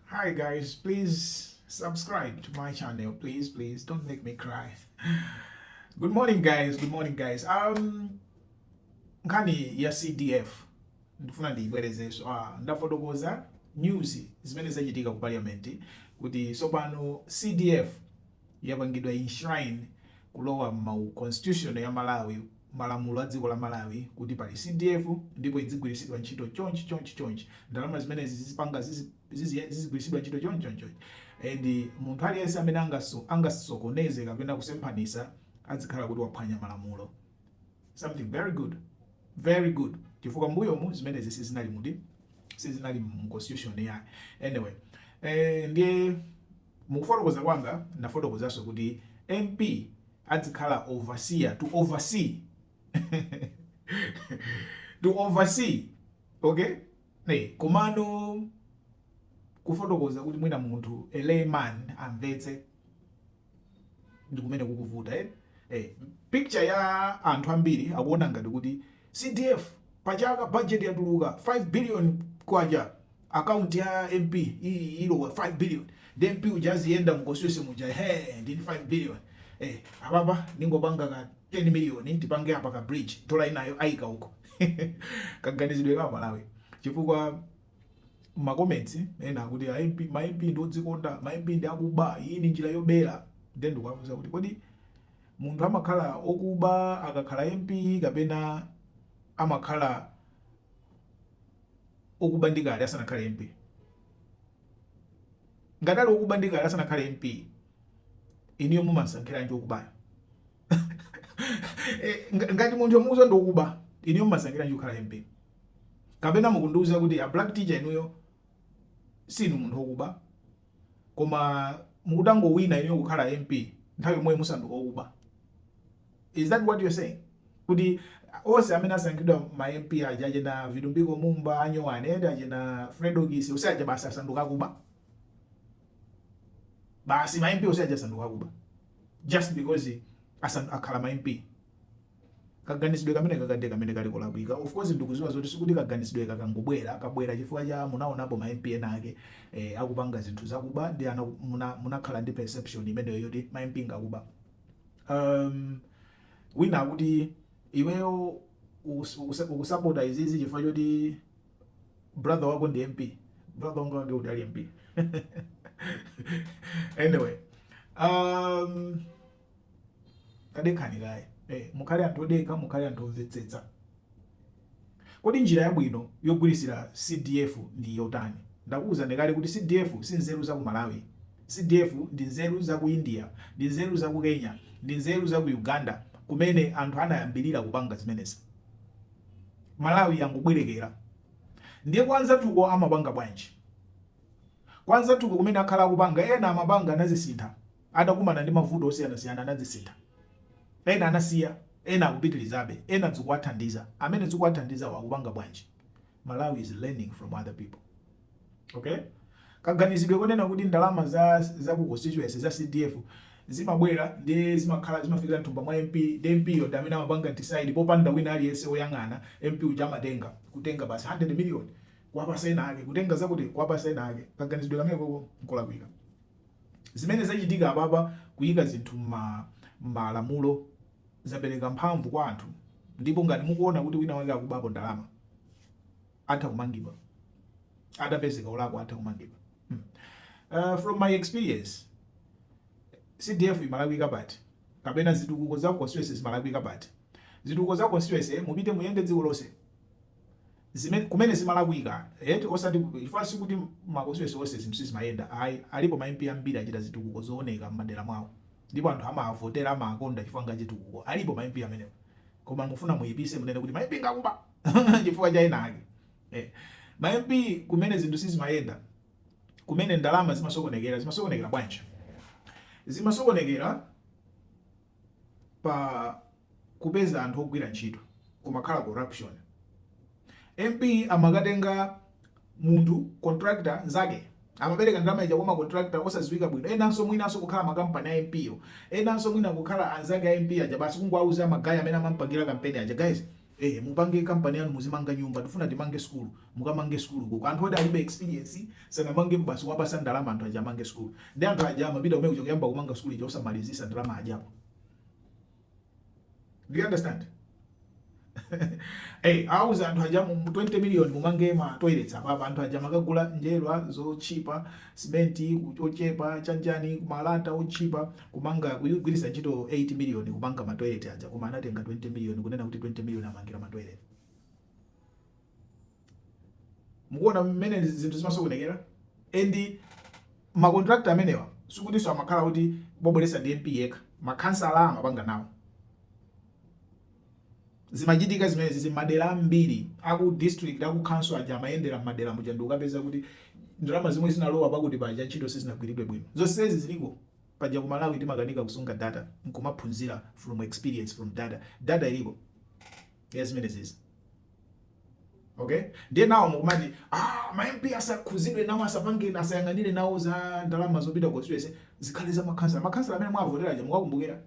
Hi guys, please subscribe to my channel. Please, please don't make me cry. Good morning guys, good morning guys. Um nkhani ya CDF ndifuna ndiyibwerezenso. Ah, ndafotokoza news zimene zachitika ku parliament kuti tsopano CDF yapangidwa enshrine kulowa mu constitution ya Malawi malamulo a dziko la Malawi kuti pali CDF ndipo idzigwirisidwa ntchito chonchi chonchi chonchi ndalama zimenezi zizipanga zizigwirisidwa ntchito chonchi chonchi chonchi and munthu aliyense amene angaso angasokoneze kapena kusemphanisa adzikhala kuti waphwanya malamulo something very good very good chifukwa mbuyomu zimenezi sizinali mudi sizinali mu constitution ya anyway eh ndiye Mukufotokoza kwanga ndafotokozanso kuti MP adzikhala overseer, to oversee, to oversee, okay, eh, komano kufotokoza kuti mwina munthu a layman amvetse ndikumene kukuvuta eh? Eh, picture ya anthu ambiri akuona ngati kuti CDF pachaka budget yatuluka 5 billion kwacha account ya mp ilowa 5 billion nde mp uja aziyenda mu constituency muja he ndili ndi 5 billion eh apapa ndingopanga ka 10 million tipange apa ka bridge tola inayo aika uko kaganizidwe ka malawi chifukwa ma comments ena akuti a mp ma mp ndi odzikonda ma mp ndi akuba iyi ndi njira yobera nde ndikuwafunsa kuti kodi munthu amakhala okuba akakhala mp kapena amakhala okuba ndi kale asanakhale MP? Ngati ali okuba ndi kale asanakhale MP, inuyo mumamsankhiranji okubayo? Eh, nga- Ngati munthu wamuuza ndi okuba, inuyo mumamsankhiranji kukhala MP? Kapena mukundiuza kuti a black teacher inuyo sinu munthu okuba, koma mutangowina inuyo kukhala MP nthawi yomweyo musanduka okuba? Is that what you're saying? Kuti onse amene asankhidwa ma MP aja achina Vitumbiko Mumba, Anyowani, eti achina Fredokiss, onse aja basi asanduka akuba. Basi ma MP onse aja asanduka akuba. Just because asandu akhala ma MP. kaganizidwe kameneka kade kameneka ndi kolakwika of course ndikuziwa zoti sikuti kaganizidwe kakangobwera kabwera chifukwa choti munaonapo ma MP ena ake eh, akupanga zinthu zakuba ndi ana munakhala muna ndi perception imeneyo yoti ma MP ngakuba um, wina akuti iweyo ukusapota izizi chifukwa choti brother wako ndi mp brother wanga wake uti ali mp anyway um, tadekhani kaye eh, mukhale anthu odekha mukhale anthu omvetsetsa Kodi njira yabwino yogwiritsira CDF ndi yotani? Ndakuuzani kale kuti CDF si nzeru za ku Malawi. CDF ndi nzeru za ku India, ndi nzeru za ku Kenya, ndi nzeru za ku Uganda kumene anthu anayambirira kupanga zimenezi. Malawi yangobwerekera. Ndiye kwa anzathuko amapanga bwanji? Kwa anzathuko kumene akhala akupanga, ena amapanga anazisintha. anakumana ndi mavuto osiyanasiyana anazisintha. Ena anasiya, ena akupitilizabe, ena zikuwathandiza. Amene zikuwathandizawo akupanga bwanji? Malawi is learning from other people. Okay? Kaganizidwe konena kuti ndalama za za ku constituency za CDF zimabwera ndi zimakhala zimafikira mthumba mwa MP ndi MP yo ndi amene amapanga decide popanda wina aliyense woyang'ana MP uja amatenga kutenga basi 100 million kuwapasa ena ake kutenga zakuti kuwapasa ena ake kaganizidwe kamenekoko nkolakwika. Zimene zachitika apapa kuyika zinthu mma mmalamulo zapereka mphamvu kwa anthu ndipo ngati mukuwona kuti wina wake akubapo ndalama atha kumangidwa atapezeka olakwa atha kumangidwa mm from my experience CDF imalakwika pati kapena zitukuko za constituency zimalakwika pati zitukuko za constituency mupite muyende dziko lonse zimene kumene zimalakwika eti osati ku- chifukwa si kuti makonstituency onse zinthu sizimayenda ayi alipo ma MP ambiri achita zitukuko zooneka m'madera mwawo ndipo anthu amawavotera amawakonda chifukwa nga achitukuko alipo ma MP amenewo koma mufuna muyipise munene kuti ma MP ngakuba chifukwa cha ena ake eh. ma MP kumene zinthu sizimayenda kumene ndalama zimasokonekera zimasokonekera bwanji zimasokonekera pa kupeza anthu ogwira ntchito kumakhala corruption. MP amakatenga munthu contractor mnzake amapereka ndalama ija kwa macontractor osadziwika bwino enanso mwinanso kukhala makampani a MP-yo enanso mwina kukhala anzake a MP aja basi kungowauza magaya amene amampangira kampeni aja guys ee mupange company yanu muzimanga nyumba tifuna timange school mukamange school kuko anthu oti alibe experience sanamangepo basi kuwapasa ndalama anthu aja amange school ndi anthu aja amapita kumene kuja kuyamba kumanga school ija osamalizisa ndalama ajapo do you understand hey, awauza anthu aja mu 20 million mumange ma toilets apapa anthu aja amakagula njerwa zochipa simenti ochepa chanjani malata ochipa Kumanga, kugwiritsa ntchito 8 million kumanga ma toilet aja koma anatenga 20 million kunena kuti 20 million amangira ma toilet. Mukuona mmene zinthu zimasokonekera? And ma contractor amenewa sikutinso amakhala oti wabweretsa ndi MP yekha, ma khansala amapanga nawo. Zimachitika zimenezi m'madera ambiri a ku district, a ku council aja amayendera m'madera muja ndikapeza kuti ndalama zomwe zinalowa pakuti paja ntchito sizinagwiridwe bwino. Zonsezi ziliko paja ku Malawi timakanika kusunga data nkumaphunzira from experience from data. Data iliko ya zimenezizi. Okay? Ndiye pano mukumati ah, ma MP asakhuzidwe nawo asapange asayang'anire nawo za ndalama zopita constituency zikhale za makhansala. Makhansala amene mwavotera aja mukakumbukira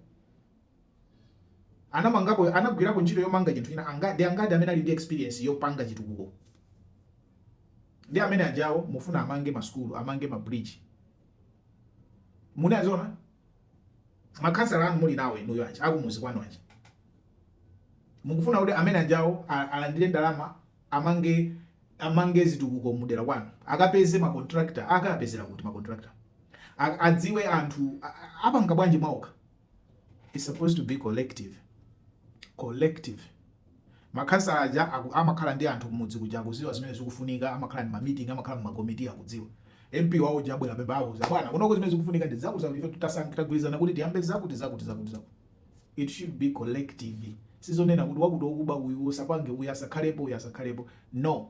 anamangapo anagwirapo ntchito yomanga chinthu china chake ndi angati amene ali ndi experience yopanga chitukuko ndi amene ajawo mufuna amange masukulu amange ma bridge munaziona makhansala anu muli nawo inuyo aja akumuzi kwanu aja mukufuna kuti amene ajawo a- alandire ndalama amange amange zitukuko mudera kwanu akapeze ma contractor akapezera kuti ma contractor A- adziwe anthu a- a- apanga bwanji mwaokha It's supposed to be collective. Collective. Makhansala aja amakhala ndi anthu kumudzi kuja akuziwa zimene zikufunika, amakhala ndi ma meeting, amakhala mu makomiti akudziwa. MP wawo uja abwera apa amuuza bwana, kunoko zimene zikufunika ndi zakuti zakuti tasankha tagwirizana kuti tiyambe zakuti zakuti zakuti zakuti. It should be collective. Sizonena kuti wakuti wokuba uyu usapange uyu asakhalepo uyu asakhalepo. No.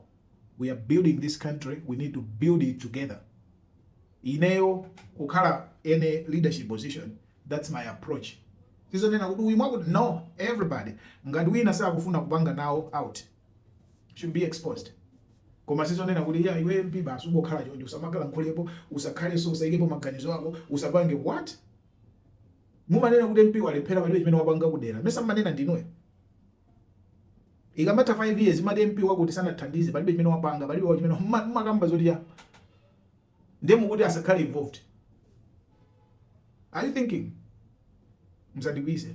we are building this country we need to build it together ineyo kukhala any leadership position that's my approach sizonena kuti uyu wakuti no everybody ngati wina sakufuna kupanga nawo out should be exposed koma sizonena kuti ya iwe mp basi ungokhala chonje usamakalankhuleko usakhalenso usaikepo maganizo ako usapange what mumanena kuti mp walephera palibe chimene wapanga kudera mesa mmanena ndinuyo Ikamatha 5 years mumati MP wakuti sanatithandize palibe chimene wapanga palibe wa chimene mumakamba zoti ya ndiye mukuti asakhale involved. Are you thinking? Musandikwiyitse.